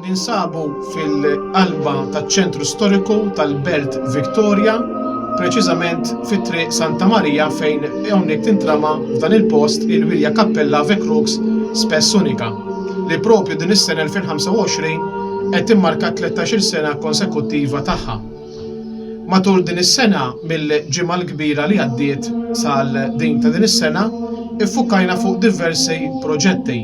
Ninsabu fil-qalba taċ-ċentru storiku tal-Belt Victoria, preċiżament fi Triq Santa Marija fejn hawnhekk tintrama f'dan il-post il-Wirja Kappella Ave Crux Spes Unica, li propju din is-sena 2025 qed timmarka t-tlettax-il sena konsekuttiva tagħha. Matul din is-sena, mill-Ġimgħa l-Kbira li għaddiet sal din ta' din is-sena, iffukajna fuq diversi proġetti,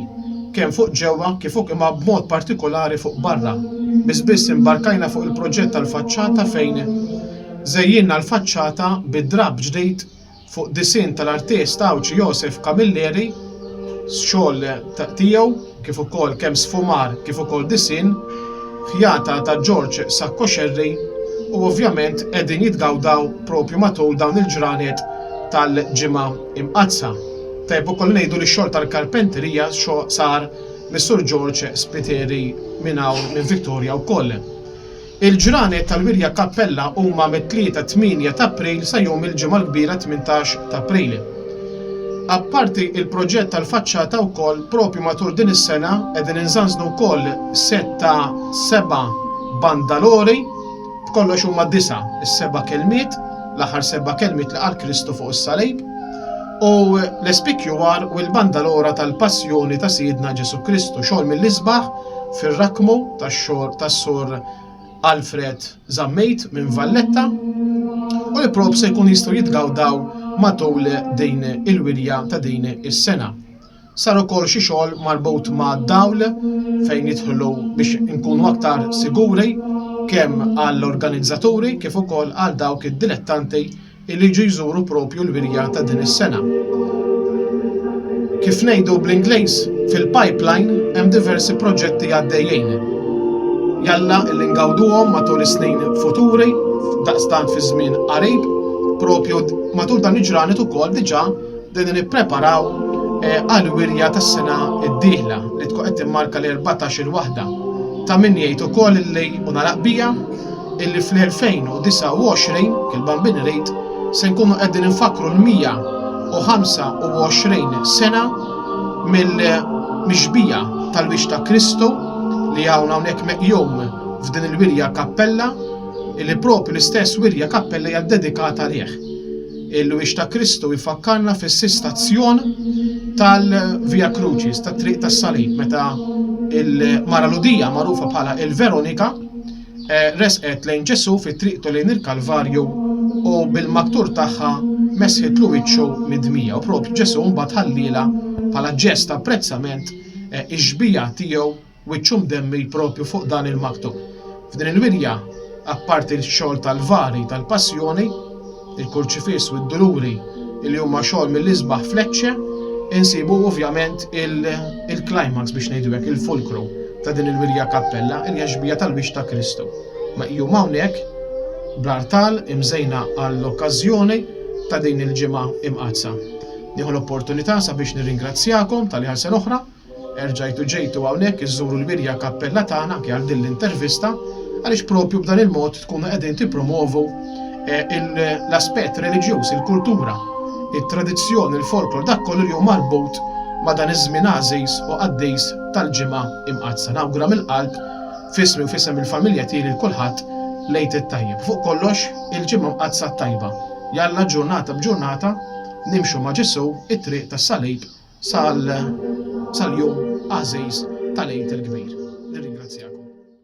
kemm fuq ġewwa kif uk imma b'mod partikolari fuq barra. Biss biss imbarkajna fuq il-proġett tal-faċċata fejn żejjinna l-faċċata bi drapp ġdid Fuq disinn tal-artist Għawdxi Josef Camilleri, xogħol tiegħu kif ukoll kemm sfumar kif ukoll disinn, ħjata ta' George Sacco Scerri u ovvjament qegħdin jitgawdaw propju matul dawn il-ġranet tal-Ġimgħa Imqaddsa. Tajjeb ukoll ngħidu li x-xogħol tal-karpenterija sar mis-Sur George Spiteri minn hawn minn Victoria wkoll. Il-ġranet tal-wirja Cappella huma mit-Tlieta 8 t'April sa jum il-Ġimgħa l-Kbira 18 t'April. Apparti il-proġett tal-faċċata wkoll propju matul din is-sena qegħdin inżanżnu wkoll sett ta' seba' bandalori, b'kollox huma disa' is-seba' kelmiet, l-aħħar seba' kelmiet li qal Kristu fuq is-Salib, u l-SPQR u l-bandalora tal-Passjoni ta' Sidna Ġesù Kristu, xogħol mill-isbaħ, fir-rakkmu tax-xogħol tas-Sur Alfred Zammit minn Valletta u li prob se jkun jistgħu jitgawdaw matul din il-wirja ta' din is-sena. Sar ukoll xi xogħol marbut ma' dawl fejn jidħlu biex inkunu aktar siguri kemm għall-organizzaturi kif ukoll għal dawk id-dilettanti illi jiġu jżuru proprju l-wirja ta' din is-sena. Kif ngħidu bl-Ingliż, fil-pipeline hemm diversi proġetti għaddejjin. Jalla illi ngawduhom matul is-snin futuri, daqstant fi żmien qarib, proprju matul dan il-ġranet ukoll diġà bdejna nippreparaw għall-wirja tas-sena d-dieħla li tkun qed timmarka l-erbatax-il waħda. Ta' min jgħid ukoll illi, u nagħlaq biha, illi fl-2029, il-Bambini Rate, se nkunu qegħdin infakkru l-125 sena mill-mixbija tal-wiċċ ta' Kristu li hawn hawnhekk meqjum f'din il-wirja kappella illi proprju l-istess wirja kappella hija ddedikata għalih. Il-wiċċ ta' Kristu jfakkarna fis-sistazzjon tal-Via Crucis, tat-Triq tas-Salib, meta il-Mara Ludija magħrufa bħala il-Veronika eh, resqet lejn Ġesu fi triqtu lejn il-Kalvarju u bil-maktur tagħha mesħitlu wiċċu mid-dmija u propju Ġesu mbagħad ħallila bħala ġest ta' apprezzament eh, ix-xbija tiegħu wiċċu mdemmi propju fuq dan il-maktub. F'din il-wirja, apparti l-xogħol tal-vari tal-passjoni, il-kurċifiss u d-duluri li huma xogħol mill-isbaħ f'Lecce, insibu ovvjament il-climax biex ngħidu hekk, il-fulkru ta' din il-wirja kappella, li hija xbieha tal-wiċċ ta' Kristu. Meqjuma hawnhekk bl-artal imżejna għall-okkażjoni ta' din il-Ġimgħa Imqaddsa. Nieħu l-opportunità sabiex nirringrazzjakom tal-li għal sena oħra, Erġajtu ġejtu hawnhekk iżżuru l-Wirja Kappella tagħna anke għal din l-intervista għaliex propju b'dan il-mod tkunu qegħdin tippromovu l-aspett reliġjuż, il-kultura, it-tradizzjoni, il-folklor, dak kollu li hu marbut ma' dan iż-żmien għażiż u qaddis tal-Ġimgħa Imqaddsa. Nawgura mill-qalb f'ismi u f'isem il-familja tiegħi lil kulħadd l-Għid it-Tajjeb. Fuq kollox, il-Ġimgħa Mqaddsa t-tajba. Jalla ġurnata b'ġurnata nimxu ma' Ġesù t-triq tas-Salib sal-jum għażiż tal-Għid il-Kbir. Nirringrazzjakom.